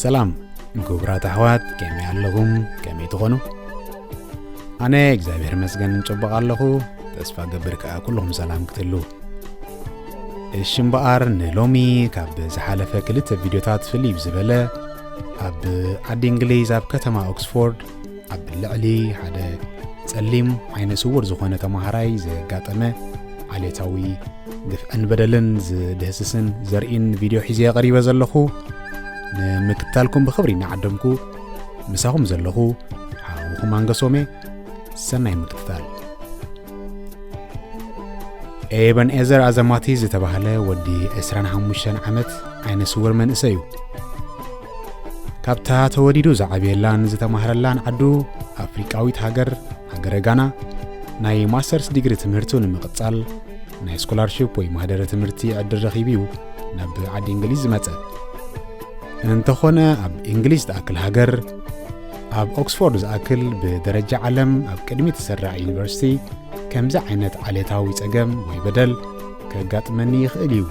ሰላም ግቡራት ኣሕዋት ከመይ ኣለኹም ከመይ ትኾኑ ኣነ እግዚኣብሔር መስገን ንጨበቕ ኣለኹ ተስፋ ገብር ከኣ ኩልኹም ሰላም ክትህልው እሺ እምበኣር ንሎሚ ካብ ዝሓለፈ ክልተ ቪድዮታት ፍልይ ብዝበለ ኣብ ዓዲ እንግሊዝ ኣብ ከተማ ኦክስፎርድ ኣብ ልዕሊ ሓደ ጸሊም ዓይነ ስውር ዝኾነ ተምሃራይ ዘጋጠመ ዓሌታዊ ግፍዕን በደልን ዝድህስስን ዘርኢን ቪድዮ ሒዘ ቀሪበ ዘለኹ ንምክታልኩም ብኽብሪ እናዓደምኩ ምሳኹም ዘለኹ ሓውኹም ኣንገሶሜ ሰናይ ምክትታል ኤበን ኤዘር ኣዘማቲ ዝተባህለ ወዲ 25 ዓመት ዓይነ ስውር መንእሰይ እዩ ካብታ ተወዲዱ ዝዓብየላን ዝተማህረላን ዓዱ ኣፍሪቃዊት ሃገር ሃገረ ጋና ናይ ማስተርስ ዲግሪ ትምህርቱ ንምቕጻል ናይ ስኮላርሽፕ ወይ ማህደረ ትምህርቲ ዕድል ረኺቡ እዩ ናብ ዓዲ እንግሊዝ ዝመጸ እንተኾነ ኣብ እንግሊዝ ትኣክል ሃገር ኣብ ኦክስፎርድ ዝኣክል ብደረጃ ዓለም ኣብ ቅድሚ ተሰራዕ ዩኒቨርሲቲ ከምዚ ዓይነት ዓሌታዊ ጸገም ወይ በደል ከጋጥመኒ ይኽእል እዩ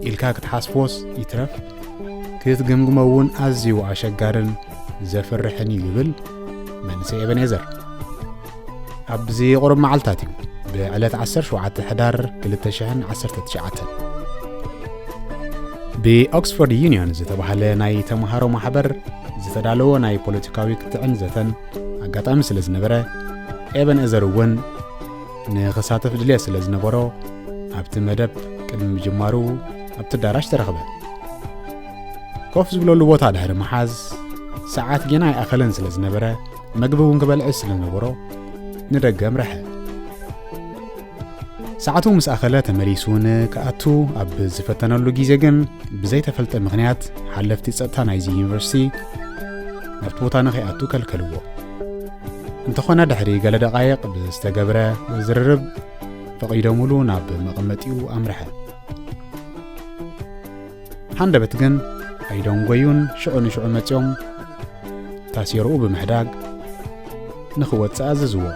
ኢልካ ክትሓስቦስ ይትረፍ ክትግምግሞ እውን ኣዝዩ ኣሸጋርን ዘፍርሕን እዩ ይብል መንሰይ ኤበኔዘር ኣብዚ ቁሩብ መዓልታት እዩ ብዕለት 17 ሕዳር 219 ብኦክስፎርድ ዩኒዮን ዝተባህለ ናይ ተምሃሮ ማሕበር ዝተዳለዎ ናይ ፖለቲካዊ ክትዕን ዘተን ኣጋጣሚ ስለ ዝነበረ ኤበን እዘር እውን ንክሳተፍ ድልየት ስለ ዝነበሮ ኣብቲ መደብ ቅድሚ ምጅማሩ ኣብቲ ኣዳራሽ ተረኽበ ኮፍ ዝብለሉ ቦታ ድሕሪ መሓዝ ሰዓት ጌና ይኣኸለን ስለ ዝነበረ መግቢ እውን ክበልዕ ስለ ነበሮ ንደገ ኣምርሐ። ሰዓቱ ምስ ኣኸለ ተመሊሱ ንክኣቱ ኣብ ዝፈተነሉ ግዜ ግን ብዘይተፈልጠ ምኽንያት ሓለፍቲ ጸጥታ ናይዚ ዩኒቨርሲቲ ናብቲ ቦታ ንኸይኣቱ ከልከልዎ እንተኾነ ድሕሪ ገለ ደቃይቕ ብዝተገብረ ዝርርብ ፈቒዶምሉ ናብ መቐመጢኡ ኣምርሐ ሃንደበት ግን ኣይደንጎዩን ሽዑ ንሽዑ መጺኦም ታሴርኡ ብምሕዳግ ንኽወጽእ ኣዘዝዎ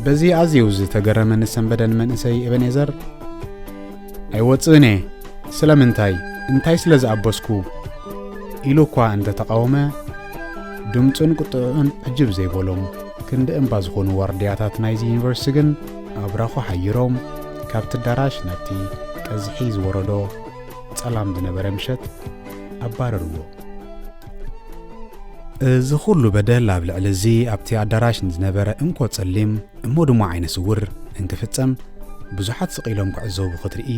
በዚ ኣዝዩ ዝተገረመ ንሰንበደን መንእሰይ ኤበኔዘር ኣይወጽእን እየ ስለምንታይ እንታይ ስለ ዝኣበስኩ ኢሉ እኳ እንተ ተቓወመ ድምፁን ቁጥዕዑን ዕጅብ ዘይበሎም ክንዲ እምባ ዝኾኑ ዋርድያታት ናይዚ ዩኒቨርሲቲ ግን ኣብራኹ ሓይሮም ካብቲ ኣዳራሽ ናብቲ ቀዝሒ ዝወረዶ ጸላም ዝነበረ ምሸት ኣባረርዎ። እዚ ኹሉ በደል ኣብ ልዕሊ እዚ ኣብቲ ኣዳራሽ ንዝነበረ እንኮ ጸሊም እሞ ድማ ዓይነ ስውር እንትፍጸም ብዙሓት ስቕ ኢሎም ክዕዘቡ ክትርኢ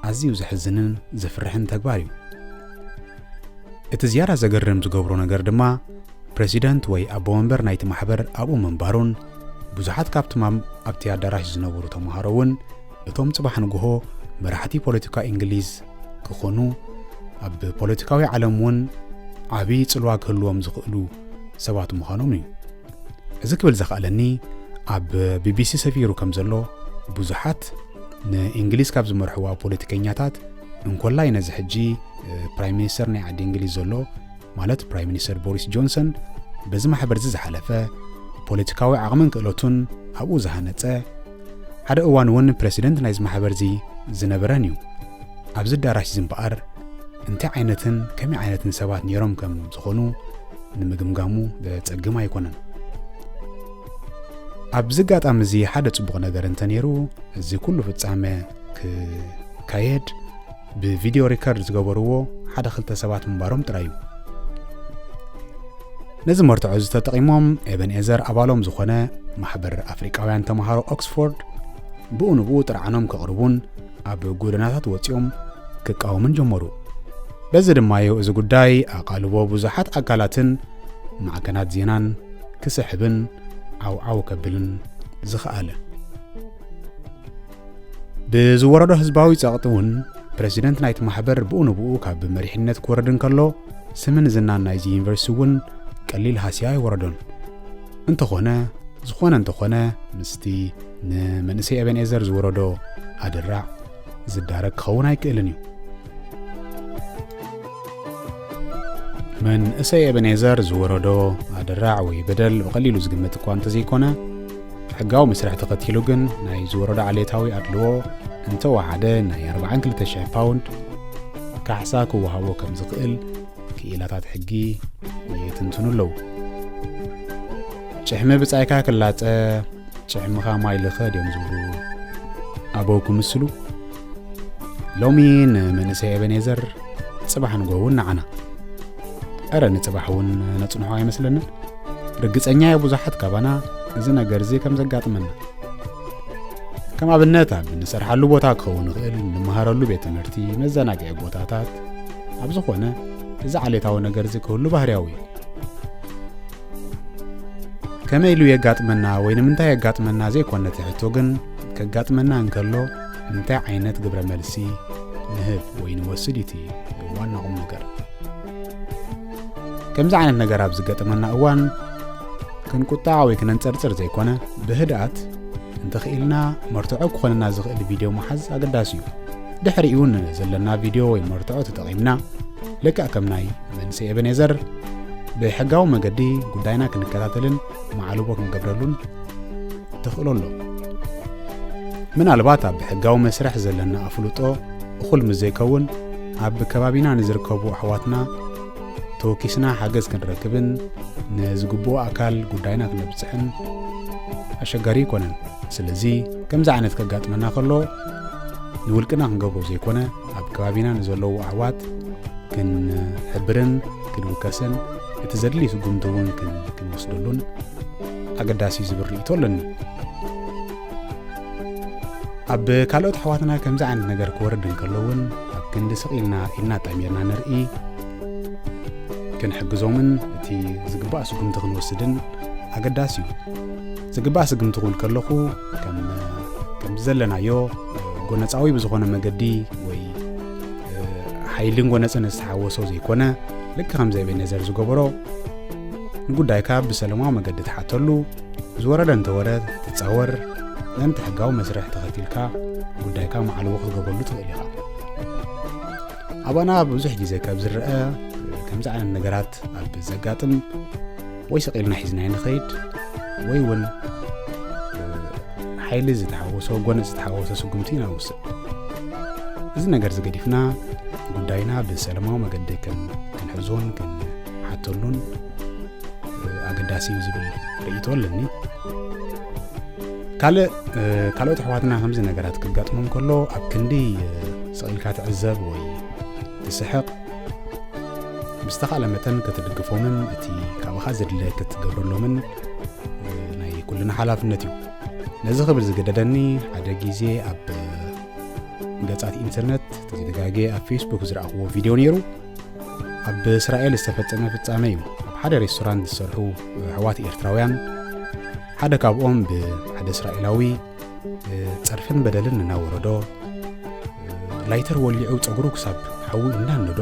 ኣዝዩ ዘሕዝንን ዘፍርሕን ተግባር እዩ። እቲ ዝያዳ ዘገርም ዝገብሮ ነገር ድማ ፕረሲደንት ወይ ኣቦ መንበር ናይቲ ማሕበር ኣብኡ ምንባሩን ብዙሓት ካብቶም ኣብቲ ኣዳራሽ ዝነበሩ ተምሃሮ እውን እቶም ጽባሕ ንግሆ መራሕቲ ፖለቲካ እንግሊዝ ክኾኑ ኣብ ፖለቲካዊ ዓለም እውን ዓብዪ ጽልዋ ክህልዎም ዝኽእሉ ሰባት ምዃኖም እዩ እዚ ክብል ዘኽኣለኒ ኣብ ቢቢሲ ሰፊሩ ከም ዘሎ ብዙሓት ንእንግሊዝ ካብ ዝመርሕዋ ፖለቲከኛታት እንኮላይ ነዚ ሕጂ ፕራይም ሚኒስተር ናይ ዓዲ እንግሊዝ ዘሎ ማለት ፕራይም ሚኒስተር ቦሪስ ጆንሰን በዚ ማሕበር እዚ ዝሓለፈ ፖለቲካዊ ዓቕምን ክእለቱን ኣብኡ ዝሃነጸ ሓደ እዋን እውን ፕረሲደንት ናይዚ ማሕበር እዚ ዝነበረን እዩ ኣብዚ ኣዳራሽ እዚ እምበኣር እንታይ ዓይነትን ከመይ ዓይነትን ሰባት ነይሮም ከም ዝኾኑ ንምግምጋሙ ዘጸግም ኣይኮነን ኣብዚ ኣጋጣሚ እዚ ሓደ ጽቡቕ ነገር እንተነይሩ እዚ ኩሉ ፍጻመ ክካየድ ብቪድዮ ሪከርድ ዝገበርዎ ሓደ ክልተ ሰባት ምንባሮም ጥራይ እዩ ነዚ መርትዖ እዚ ተጠቒሞም ኤበንኤዘር ኣባሎም ዝኾነ ማሕበር ኣፍሪቃውያን ተምሃሮ ኦክስፎርድ ብኡ ንብኡ ጥርዓኖም ከቕርቡን ኣብ ጎደናታት ወፂኦም ክቃወሙን ጀመሩ በዚ ድማ እዩ እዚ ጉዳይ ኣቓልቦ ብዙሓት ኣካላትን ማዕከናት ዜናን ክስሕብን ዓውዓው ከብልን ዝኸኣለ ብዝወረዶ ህዝባዊ ጸቕጢ እውን ፕረዚደንት ናይቲ ማሕበር ብኡ ንብኡ ካብ መሪሕነት ክወርድ እንከሎ ስምን ዝናን ናይዚ ዩኒቨርሲቲ እውን ቀሊል ሃስያ ኣይወረዶን እንተኾነ ዝኾነ እንተኾነ ምስቲ ንመንእሰይ ኤበንኤዘር ዝወረዶ ኣደራዕ ዝዳረግ ክኸውን ኣይክእልን እዩ መንእሰይ ኤበንኤዘር ዝወረዶ ኣደራዕ ወይ በደል ብቐሊሉ ዝግመት እኳ እንተዘይኮነ ሕጋዊ መስርሕ ተኸቲሉ ግን ናይ ዝወረዶ ዓሌታዊ ኣድልዎ እንተወሓደ ናይ 42,000 ፓውንድ ካሕሳ ክወሃቦ ከም ዝኽእል ክኢላታት ሕጊ ይትንትኑ ኣለዉ ጭሕሚ ብጻይካ ክላጸ ጭሕምኻ ማይ ልኸ ድዮም ዝብሉ ኣበው ክምስሉ ሎሚ ንመንእሰይ ኤበኔዘር ጽባሕ ንጎውን ንዓና እረ ንጽባሕ እውን ነጽንሖ ኣይመስለንን ርግጸኛ እየ ብዙሓት ካባና እዚ ነገር እዚ ከም ዘጋጥመና ከም ኣብነት ኣብ ንሰርሓሉ ቦታ ክኸውን ይኽእል ንምሃረሉ ቤት ትምህርቲ መዘናግዒ ቦታታት ኣብ ዝኾነ እዚ ዓሌታዊ ነገር እዚ ክህሉ ባህርያዊ እዩ ከመይ ኢሉ የጋጥመና ወይ ንምንታይ የጋጥመና ዘይኮነ እቲ ሕቶ ግን ከጋጥመና እንከሎ እንታይ ዓይነት ግብረ መልሲ ንህብ ወይ ንወስድ እቲ ዋና ቁም ነገር ከምዚ ዓይነት ነገር ኣብ ዝገጠመና እዋን ክንቁጣዕ ወይ ክነንጸርጽር ዘይኮነ ብህድኣት እንተኽኢልና መርትዖ ክኾነና ዝኽእል ቪድዮ መሓዝ ኣገዳሲ እዩ ድሕሪኡ ዘለና ቪድዮ ወይ መርትዖ ተጠቒምና ልክዕ ከም ናይ መንስኤ ኤበኔዘር ብሕጋዊ መገዲ ጉዳይና ክንከታተልን ማዕልቦ ክንገብረሉን ተኽእሎ ኣሎ ምናልባት ኣብ ሕጋዊ መስርሕ ዘለና ኣፍልጦ እኹል ምስ ዘይከውን ኣብ ከባቢና ንዝርከቡ ኣሕዋትና ተወኪስና ሓገዝ ክንረክብን ንዝግብኦ ኣካል ጉዳይና ክነብፅሕን ኣሸጋሪ ኣይኮነን ስለዚ ከምዚ ዓይነት ከጋጥመና ከሎ ንውልቅና ክንገብሮ ዘይኮነ ኣብ ከባቢና ንዘለዉ ኣሕዋት ክንሕብርን ክንውከስን እቲ ዘድሊ ስጉምቲ እውን ክንወስደሉን ኣገዳሲ ዝብል ርእይቶ ኣለኒ ኣብ ካልኦት ኣሕዋትና ከምዚ ዓይነት ነገር ክወርድ እንከሎ እውን ኣብ ክንዲ ስቕ ኢልና ኢድና ጠሚርና ንርኢ ክንሕግዞምን እቲ ዝግባእ ስጉምቲ ክንወስድን ኣገዳሲ እዩ ዝግባእ ስግምቲ ክብል ከለኹ ከም ዘለናዮ ጎነፃዊ ብዝኾነ መገዲ ወይ ሓይልን ጎነፅን ዝተሓወሶ ዘይኮነ ልክ ከም ዘይቤ ነዘር ዝገበሮ ንጉዳይካ ብሰለማዊ መገዲ ትሓተሉ ዝወረደ እንተወረ ትፃወር ምእንቲ ሕጋዊ መስርሕ ተኸቲልካ ጉዳይካ መዓልዎ ክትገብረሉ ትኽእል ኢኻ ኣባና ብዙሕ ግዜ ካብ ዝረአ ከምዚ ዓይነት ነገራት ኣብ ዘጋጥም ወይ ሰቂልና ሒዝና ንኸይድ ወይ እውን ሓይሊ ዝተሓወሶ ጎነ ዝተሓወሶ ስጉምቲ ኢና ንውስድ እዚ ነገር ዝገዲፍና ጉዳይና ብሰለማዊ መገዲ ክንሕዞን ሓተሉን ኣገዳሲ እዩ ዝብል ርእቶ ኣለኒ ካልእ ካልኦት ኣሕዋትና ከምዚ ነገራት ክጋጥሞም ከሎ ኣብ ክንዲ ስቕኢልካ ትዕዘብ ወይ ትስሕቕ ብዝተኻእለ መጠን ክትድግፎምን እቲ ካብኻ ዘድለ ክትገብረሎምን ናይ ኩልና ሓላፍነት እዩ ነዚ ክብል ዝገደደኒ ሓደ ግዜ ኣብ ገጻት ኢንተርነት ተዘጋጌ ኣብ ፌስቡክ ዝረኣኽዎ ቪድዮ ነይሩ ኣብ እስራኤል ዝተፈጸመ ፍጻመ እዩ። ኣብ ሓደ ሬስቶራንት ዝሰርሑ ኣሕዋት ኤርትራውያን ሓደ ካብኦም ብሓደ እስራኤላዊ ጸርፍን በደልን እናወረዶ ላይተር ወሊዑ ጸጉሩ ክሳብ ሓዊ እናነዶ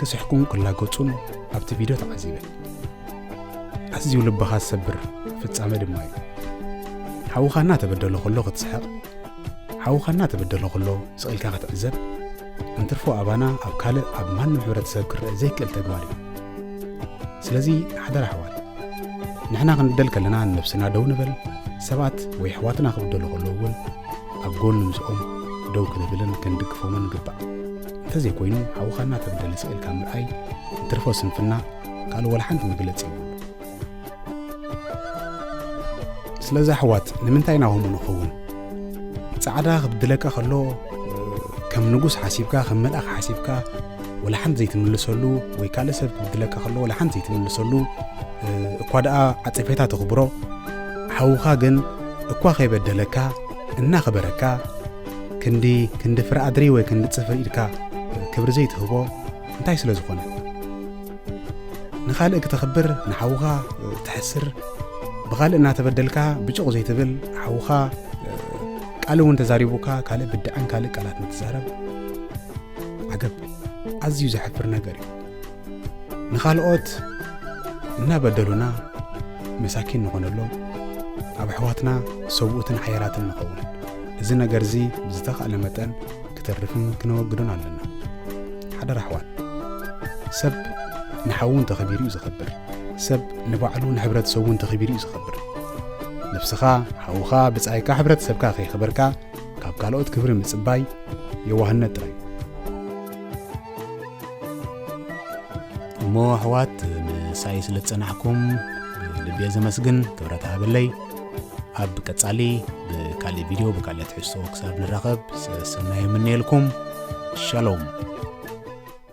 ክስሕቁን ክላገጹን ኣብቲ ቪድዮ ተዓዚበ። ኣዝዩ ልብኻ ዝሰብር ፍጻመ ድማ እዩ። ሓውኻ እናተበደሎ ከሎ ክትስሕቕ፣ ሓውኻ እናተበደሎ ከሎ ስቒልካ ክትዕዘብ እንትርፎ ኣባና ኣብ ካልእ ኣብ ማንም ሕብረተሰብ ክረአ ዘይክእል ተግባር እዩ ስለዚ ሓደራ ኣሕዋት ንሕና ክንደል ከለና ንነብስና ደው ንበል ሰባት ወይ ኣሕዋትና ክብደሉ ከለዉ እውን ኣብ ጎኒ ምስኦም ደው ክንብልን ክንድግፎምን ንግባእ እንተዘይኮይኑ ሓውኻና ተብደለ ስቕ ኢልካ ምርኣይ እንትርፎ ስንፍና ካልእ ወላ ሓንቲ መግለፂ እዩ ስለዚ ኣሕዋት ንምንታይ ኢና ከምኡ ንኸውን ጻዕዳ ክብድለካ ከሎ ከም ንጉስ ሓሲብካ ከም መልኣኽ ሓሲብካ ወላ ሓንቲ ዘይትምልሰሉ ወይ ካልእ ሰብ ክብድለካ ከሎ ወላ ሓንቲ ዘይትምልሰሉ እኳ ደኣ ዓጸፌታ ተኽብሮ ሓውኻ ግን እኳ ከይበደለካ እናኸበረካ ክንዲ ክንዲ ፍረ ኣድሪ ወይ ክንዲ ጽፍሪ ኢድካ ክብሪ ዘይትህቦ እንታይ ስለ ዝኾነ ንኻልእ ክተኽብር ንሓውኻ ትሕስር ብኻልእ እናተበደልካ ብጭቕ ዘይትብል ሓውኻ ቃል እውን ተዛሪቡካ ካልእ ብድዐን ካልእ ቃላት ንትዛረብ ዓገብ ኣዝዩ ዘሕፍር ነገር እዩ ንኻልኦት እናበደሉና መሳኪን ንኾነሎም ኣብ ኣሕዋትና ሰብኡትን ሓያላትን ንኸውን እዚ ነገር እዚ ብዝተኻእለ መጠን ክተርፍን ክነወግዶን ኣለና ሓደራ ኣሕዋት ሰብ ንሓዉ እንተኸቢሩ እዩ ዝኸብር ሰብ ንባዕሉ ንሕብረተሰቡ እንተኸቢሩ እዩ ዝኸብር ነፍስኻ ሓውኻ ብጻይካ ሕብረተሰብካ ከይኸበርካ ካብ ካልኦት ክብሪ ምጽባይ የዋህነት ጥራይ እሞ ኣሕዋት ምሳይ ስለ ዝጸናሕኩም ልቤ ዘመስግን ክብረት ሃበለይ ኣብ ቀጻሊ ብካልእ ቪድዮ ብካልእ ትሕዝቶ ክሳብ ንራኸብ ሰናይ የምነየልኩም ሻሎም